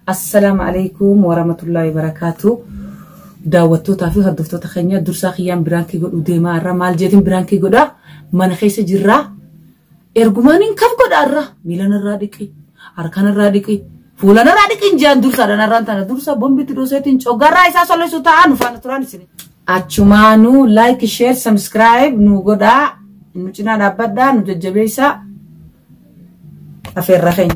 Assalam alaikum waramatullahi wabarakatu daawwattootaa fi hordoftoota keenya dursaa kiyyaan biraankii godhuu deemaa irra maal jeetiin biraankii godhaa mana keessa jirraa ergumaan hin kam godhaa irra miilan irraa dhiqi harkan irraa dhiqi fuulan irraa dhiqi hin jean dursaa dhan irraan tana dursaa bombitti dooseetiin coggarraa isaa solleessu taa'aa nu faana turaan isin achumaanuu like share subscribe nu godhaa nu cinaa dhaabbadhaa nu jajjabeessaa afeerra keenya.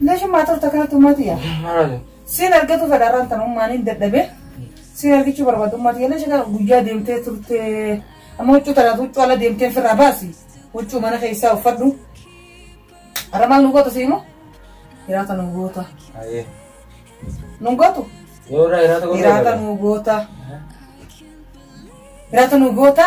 Nashin maa turta kanatti ummati yaa. Maali? Siin argatu fedha irraan tan ummaan hin dadhabe. Siin argichuu barbaadu ummati yaa. Nashin guyyaa deemtee turtee. Amma huccuu tanaaf huccuu ala deemtee firraa baasi. Huccuu mana keessaa uffadhu. Har'a maal nu goota siimoo? Hiraata nu goota. Ayyee. Nu gootu? Yoo irraa hiraata gosa Hiraata nu goota. Hiraata nu goota.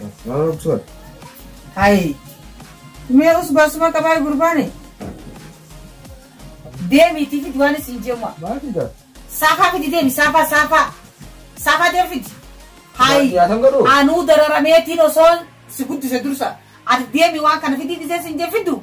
Gafaabsor. Hayi. Mee us baasuma qabaa gurbaane. Deemiitii fidi waan isin jeemaa. Maati gaa. Saafaa fidi deemi saafaa saafaa. Saafaa deemi fidi. Hayi. Yaatan godhu. Anuu dararameetiin osoon si guddise dursa. Ati deemi waan kana fidii dhisee sin jee fiddu.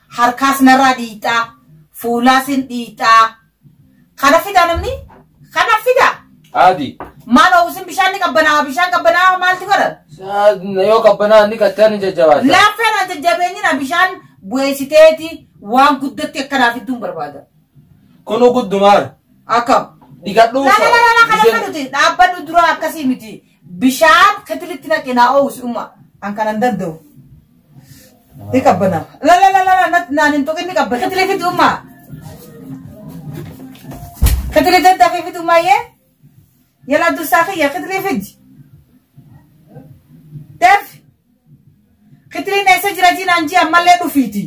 harkaas narraa dhiixxaa fuulaas hin dhiixxaa kana fidaa namni kana fidaa Adi. maal oowwisin bishaan ni qabbanaa bishaan qabbanaa maaltu godha Na yoo qabbanaa ni kattaan ni jajjabaata. laaffeen ati jabeenyina bishaan bu'eessiteeti waan guddatti akkanaaf idduun barbaada Kunu guddumaara. akkam Dhigadhuu. Lala lala kana Bishaan- kan nuti dhaabbannu dura akkasii miti. Bishaan ketilitti naqi naa oowwisi umma. An kanan danda'u. Ni qabbana. La la la la la nat- naan hin tuqin ni qabba. Ketili fidi umma. Ketili daddafii fidi umma yee. Yala dursaa kiyya ketili fidi. Def. Ketiliin eessa jira jiinaan jii ammallee dhufiiti.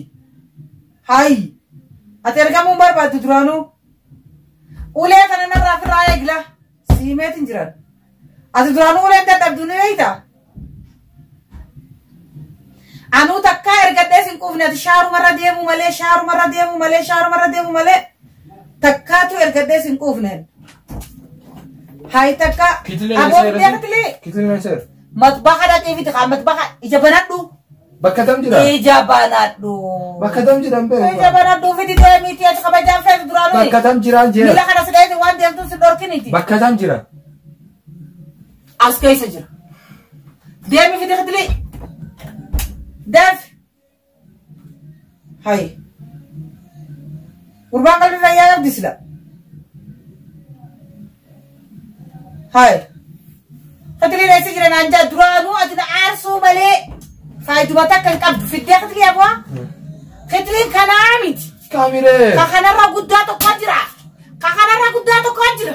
Hayi. Ati ergamuun barbaaddu duraanuu. Ulee kana narraa firraa eegla. Siimeet hin jiran. Ati duraanuu uleen dadhabdu ni beekta. Anuu takkaa ergadhee sin quufne ati shaarumarra deemuu malee shaarumarra deemuu malee shaarumarra deemuu malee takkaatu ergadhee sin quufne. Hayi takka Kitlee aboo seera- biyyatti Kitlee seera. matbaha dhaqee fiti kaa matbaha ija banadhu. Bakka tam jira? Ija banadhu. Bakka tam jira hin beeku. Ija banadhu fidi deemiiti achi kabajaan feetu duraan nuyi. Bakka tam jiraan jira? Miila kana si dheeyse waan deemtuun si dhorkiniti. Bakka tam jira? As keessa jira. Deemi fidi fidili. Deef. Hayi. Gurbaan qalbii fayyaa qabdi sila. Hayi. Katilii reessi jira naan jaa duraanuu ati na aarsuu malee faayiduma takka hin qabdu fiddee katilii abu'aa. Katiliin kanaa miti. Kamiree. Ka kanarra guddaa tokko jira. Ka kanarra guddaa tokko jira.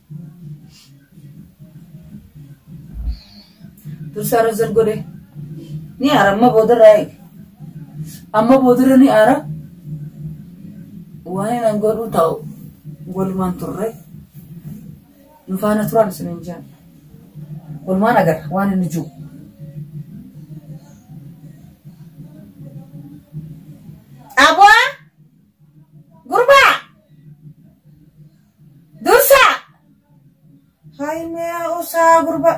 dursaa razal godhe ni aara amma boodarraa eege amma boodarra ni aara waan inni godhu ta'u walumaan turre nu faana turaan isin hin jaan walumaan agarra waan inni jiru. Aboo gurbaa Dursaa! Haymee usaa gurba.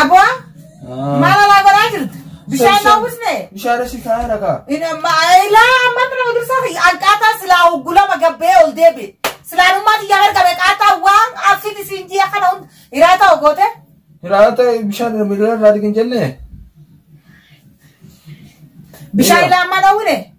Abo maal alaa godhaa jirta? Bishaan naa busne? Bishaan asii kaa'ee rakaa. Ina ma ilaa amma mana dursaa fi anqaataa silaa hoggulama gabbee ol deebi. Silaanummaa xiyyaa gargabe qaataa waan afin isin ji'a kana hunda hiraa ta'u goote. Hiraata bishaan miidhagina irraa argin jennee. Bishaan ilaa amma dhawwine.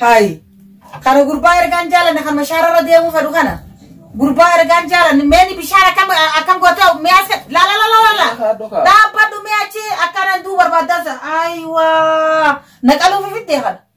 Hayi. Kana gurbaa ergaan jaalanne kan mashaararra deemuu fedhu kana. Gurbaa ergaan jaalanne meeni bishaan akkam akkam gootee mi'a se la la la la la la. Dhaabbadhu mi'a achi akkanaan duu barbaaddansa. Ayiwaa. Naqaluuf fiddee kana.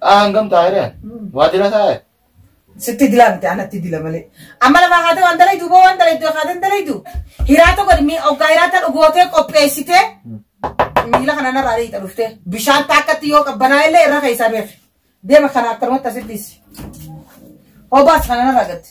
Ah, hangam taa'e dha? Waajjira taa'e? Sitti dilaa miti anatti dila malee. Amma lafa haatee waan dalaydu boo waan dalaydu haatee hin dalaydu. Hiraata godhi mi oggaa hiraata dhugootee qopheessitee miila kana narraa dhiita dhuftee bishaan taakkatti yoo qabbanaa illee irra keessaa beefi. Deema kana akkanumatti asitti dhiisi. Hobaas kana narraa gatti.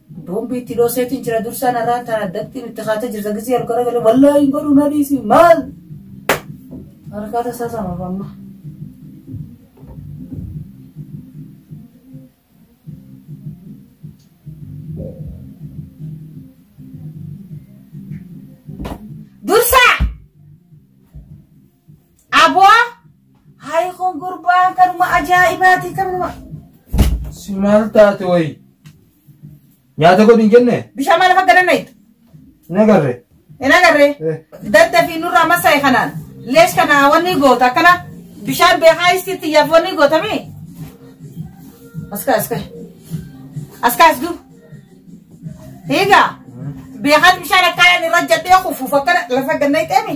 Bombi itti dhooseetiin jira dursaan har'aan tana addattiin itti kaatee jirta gisee ol garagalee wallaahi hin godhu na dhiisi maal? Harkaa tasaa sama amma. Dursaa! Aboo hayi kun gurbaan kanuma ajaa'ibaati kanuma. Si maal taate wayi? Nyaata godhi hin jenne? Bishaan maal akka dandeettu? Hin agarre. Hin agarre. Dadda fi nurraa masaa'e kanaan lees kana wanni goota akkana bishaan beekaa isitti yaaf wanni gootami. Aska aska. Aska as du. Hiigaa. Beekaan bishaan akkaan irra jedhee kufuuf akkana lafa gannayxeemi.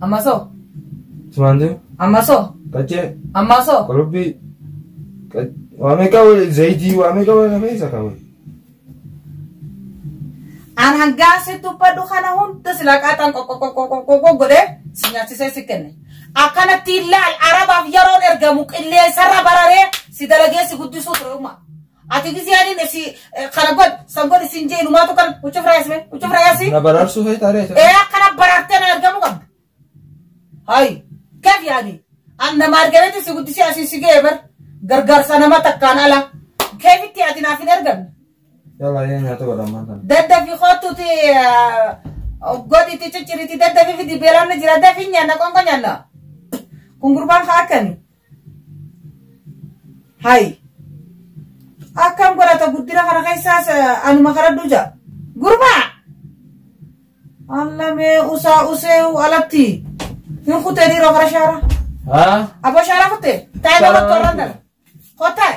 Ammaso. Simaantu. Ammaso. Qaccee. Ammaso. Qurubbii. Waa meeqa zayitii waa meeqa wal hafee isa qabu. An hangaa si dubbadhu kana hunda si laqaaxan qoqqoqqoqqoqqo godhee si nyaachisee si kenne. Akkanatti ilaal arabaaf yeroon ergamu qilleensarra bararee si dalagee si guddisuu ture uumaa. Ati gizee ani ne si kana god san god sin jee lumaa tu kan ucuf rayas me ucuf rayas Na baraarsuu feetaa ree? ee akkana baraartee na argamu qabda. Hayi keef yaani an nama argameeti si guddisee asii si ga'e bar gargaarsa nama takkaan ala keefitti ati naaf hin argamne. Yalla yee nyaata godha ammaan tana. Daddafi kottuti godhiti cicciriti daddafi fidi beelaan na jira dafi nyaanna qonqo nyaanna. Kun gurbaan haa akkani. Hay. Akkam godhata guddina kana keessaas eh, anuma karadhu jaa. Gurbaa! Alla mee usaa usee u alatti. Hin kutee dhiiroo kara shaara. Haa? Aboo shaara kutte. Taa'ee bakka warraan dhala. Kottaa'e.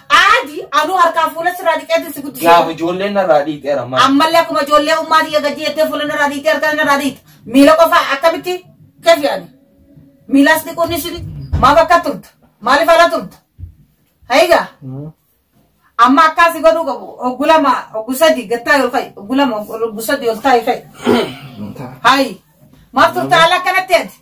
Qaadi anuu harkaa fuula sirraa dhiqeetti si guddise. Gaafa ijoolleen narraa dhiiteera maal? Ammallee akkuma ijoollee ummaa tiyya gadi jettee fuula narraa dhiite harkaa narraa dhiite. Miila qofaa akkamitti keef yaani? Miilaas dhiquun ni shiri. Maaf akka turta? Maaliif ala turta? Hayigaa. Amma akkaasi godhuu qabu. Oggu lama, oggu sadi gattaa yoo fa'i. Oggu lama, oggu sadi ol taa'i fa'i. Hayi. Maaf turta ala akkanatti ati?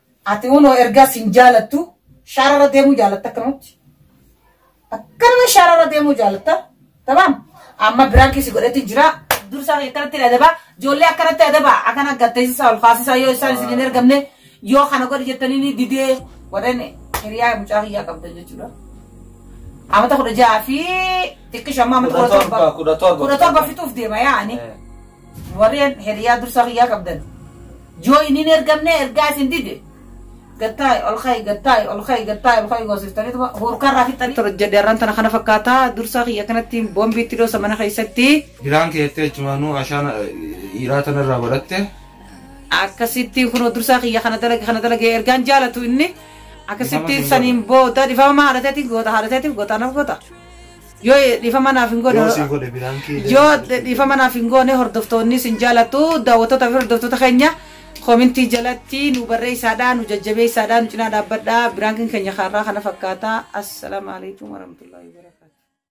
Ati hunoo ergaa sin jaalattu shaarara deemuu jaalatta akkanumatti. Akkanuma shaarara deemuu jaalatta. Tabaam. Amma biraankii si godhetti jira. Dursaa kee akkanatti adabaa. Ijoollee akkanatti adabaa. Akkana gatteessisaa ol kaasisaa yoo isaan isin hin ergamne yoo kana godhi jettanii ni didee warreen hiriyaa mucaa kiyyaa qabdan jechuudha. Amata kudha ja'a fi xiqqisha amma amata kudha torba. Kudha torba. Kudha torba fixuuf deema yaa'anii. Eh. Warreen hiriyaa dursa kiyyaa qabdan yoo inni hin ergamne ergaa isin dide gattaa'e ol ka'i gattaa'e ol ka'i gattaa'e ol ka'i goosiftaniituma hurkarraa fixxanii. Tor jedhe arraan tana kana fakkaata dursaa kiyya kanatti boombii itti dhoosa mana keessatti. Biraan keettee achumaanuu ashaan dhiiraa tanarraa baratte. Akkasittiin kunoo dursaa kiyya kana dalage kana dalage ergaan jaalatu inni. Akkasittiin saniin booda dhifama haadhateetiin goota haadhateetiin goota anaaf goota. Yoo dhiifama naaf hin goone Yoo sii godhe biraan kee Yoo jala dhufuu dhiifama jira. naaf hin goone hordoftoonni isin jaalatu daawwattoota fi hordoftoota keenya koomintii jalatti nu barreessaadhaa nu jajjabeessaadhaa nu cinaa dhaabbadhaa biraankiin keenya kaarraa kana fakkaata assalaamu alaikum warahmatullahi wabarakatuh.